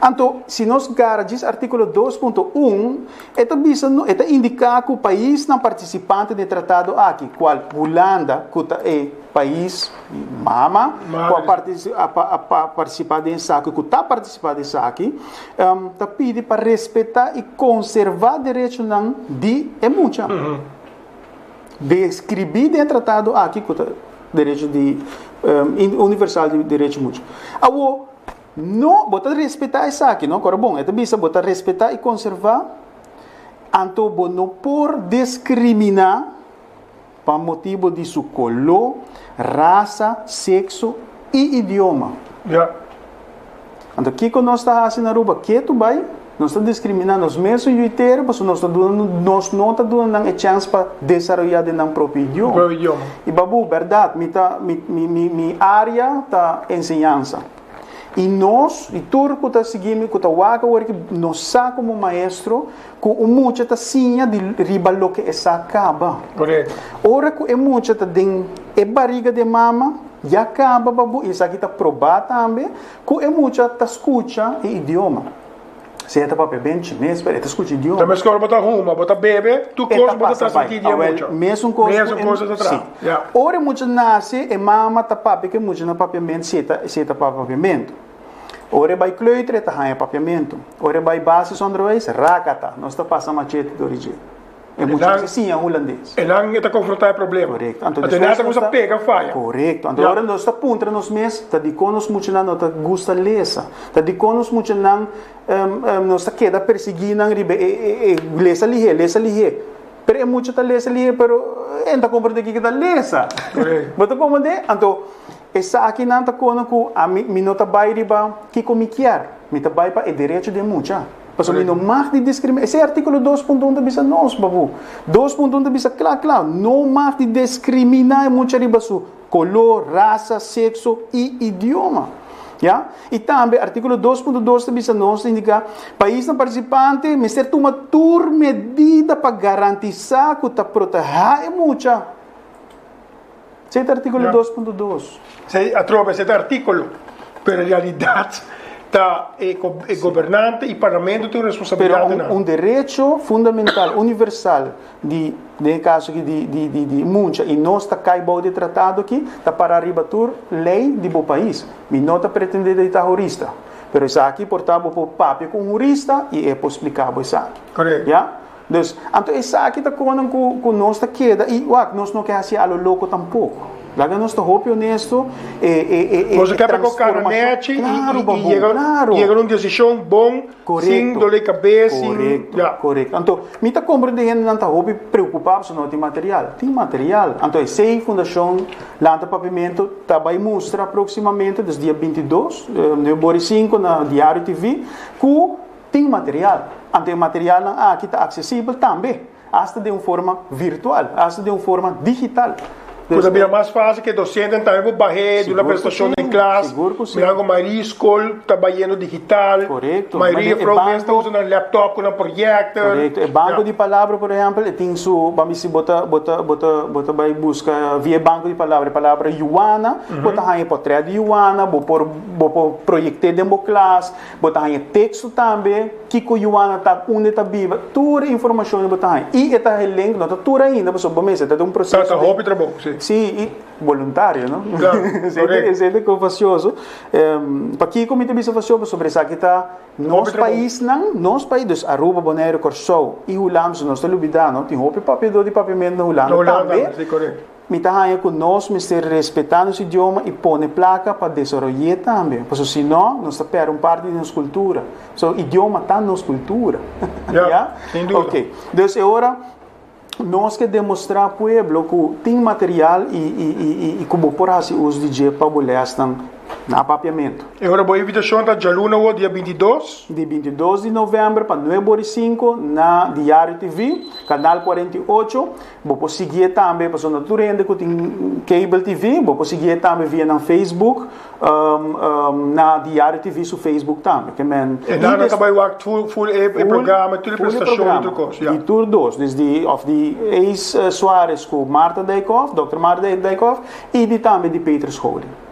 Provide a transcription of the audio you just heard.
Anto, si nos gara djis artíkulo dos punto un, e ta bisa no e ta indiká ku paisnan partisipante den tratado aki, kual Hulanda ku ta e pais mama ku a partisipá den esaki ku ta partisipá den esaki, ta pidi pa respetá i konservá derechonan di e mucha, deskribí den e tratado aki ku ta derecho di universal di derecho mucha. Awo. No, bo ta respetá esaki, no? Kora bon, e ta bisa bo ta respetá i konservá, anto bo no por diskriminá pa motibu di su koló, rasa, sekso i idioma. Ya. Anto kiko nos ta hasi na Aruba? Ketu bai. Nos ta diskrimina nos mesun yu interu pasobra nos ta duna nos no ta duna nan e chèns pa desaroyá den nan propio idioma. I babou, bèrdat, mi ta mi mi mi mi área ta enseñansa. I nos, i tur ku ta sigui mi, ku ta wak awor aki, nos sa komo maestro ku un mucha ta siña di riba loke e sa kaba. Ora ku e mucha ta den e bariga di e mama, ya kaba babou i esaki ta probá tambe Ku e mucha ta skucha e idioma. Si e ta papia ben chimes pero e ta skucha e idioma. Ta meskor bo ta huma, bo ta bebe, tur kos bo ta transmiti di e mucha. Mesun kos ta traha. Ya. Ora e mucha nase e mama ta papia ku e mucha na papiamentu si e ta papia papiamentu. Ora e bai kleuter e ta haña papiamentu. Ora e bai basisonderwijs, rakata, nos ta pasa machete dor di dje. E muchacho siña hulandes. Enan e ta konfrontá e problema. Korekto. Anto despues nos ta. Anto e nada ta pega faya. Korekto. Anto ora nos ta puntra nos mes, ta dikon nos muchanan no ta gusta lesa? Ta dikon nos muchanan nos ta keda persigui nan riba e lesa lihé, lesa lihé? Pero e mucha ta lesa lihé pero e no ta konprendé kiko ta lesa. Korek. Bo ta komprendé? Anto esakinan ta kona ku mi no ta bai riba kiko mi kier. Mi ta bai pa e derecho di e mucha. Pasobra mi no mag di diskriminá. Esei artíkulo dos punto un ta bisa nos, papu. Dos punto un ta bisa kla kla, no mag di deskriminá e mucha riba su koló, rasa, sekso i idioma. Ya? I tambe artíkulo dos punto dos ta bisa nos, ta indiká, paisnan partisipante mester tuma tur medida pa garantisá ku ta protehá e mucha. Esei ta artíkulo dos punto dos. Esei atrobe esei ta artíkulo, pero realidat ta e gobernante i parlamento tin un responsabilidat den nan. Pero un derecho fundamental, universal di, den e kaso aki, di muncha i nos ta kai bou di e tratado aki ta pará riba tur lei di bo pais. Mi no ta pretendé di ta hurista, pero esaki por ta bo por papia ku un hurista i e por spliká bo esaki. Korek. Dus, anto esaki ta kos nan ku nos ta keda, i wak, nos no ke hasié a lo loko tampoko. Laga nos ta hopi onesto, e, e, e, e Nos a keda ku kara nechi i, i, i yega, yega na un desishon bon, sin dole kabes, sin, Korekto, ya. korekto. Anto, mi ta komprende hendenan ta hopi preokupá pasobra no tin material. Tin material. Anto, esei Fundashon Lanta Pavimentu ta bai mustra proksimamente, des dia binti dos, e, nobiembori sinku, na Diario TV, ku, Tin material, anto e materialnan aki ta aksesibel tambe, asta den un forma virtual, asta den un forma digital. Ku ta bira mas fásil ku e dosenten tambe por bah'é di una presentashon den klas, mira algu mayoría skol ta bayendo digital, mayoría afro mes ta usa nan laptop ku nan proyèkter. E banko di palabra por ehèmpel e tin su, ban bisi bo ta bo ta bo ta bo ta bai buska via e banko di palabra e palabra Yuana, bo ta haña e potrèt di Yuana, bo por bo por proyekt'é den bo klas. Bo ta haña teksto tambe, kiko Juana ta, unde ta biba, tur e informashonnan bo ta haña. I e tahe link no ta tur ainda, pasobra bo mester ta den un proseso di. Ta hopi trabou, si. Si, i boluntario, no? Claro, corect. Esei ta e cosa facioso. Pakiko mi ta bisa facio? Pasobra esaki ta nos paisnan, nos pais, dus Aruba, Bonaire, Corsou i Hulanda, su nos ta lubida, no? Tin hopi papiador di papiamentu na Hulanda tambe. Na Hulanda tambe, si, corect. Mi ta haña ku nos mester respetá nos idioma i pone plaka pa desaroy'é tambe, pasobra si no, nos ta pèrdè un parti di nos kultura. So, idioma ta nos kultura. Ya, sin duda. Oke, dus e ora nos ke demostrá pueblo ku tin material i, i, i, i, i ku bo por hasi uso di dje pa bo lèsnan na papiamentu. E ora bo invitashon ta djaluna wòrdu dia binti dos. Di binti dos di novèmber pa nuebe ora i sinku na Diario TV, kanal kuarenta i ocho, Bo por siguié tambe pasobra no tur hende ku tin cable TV, bo por siguié tambe via nan Facebook, um, um, na Diario TV su Facebook tambe. Ke men, E nan a kaba e wak full, full e programa, tur e prestasyon i tur kos, ya. Di tur dos, dus di, òf di Ace Suarez ku Marta Dijkhof, Dòkter Marta Dijkhof, i di tambe di Petrus Holy.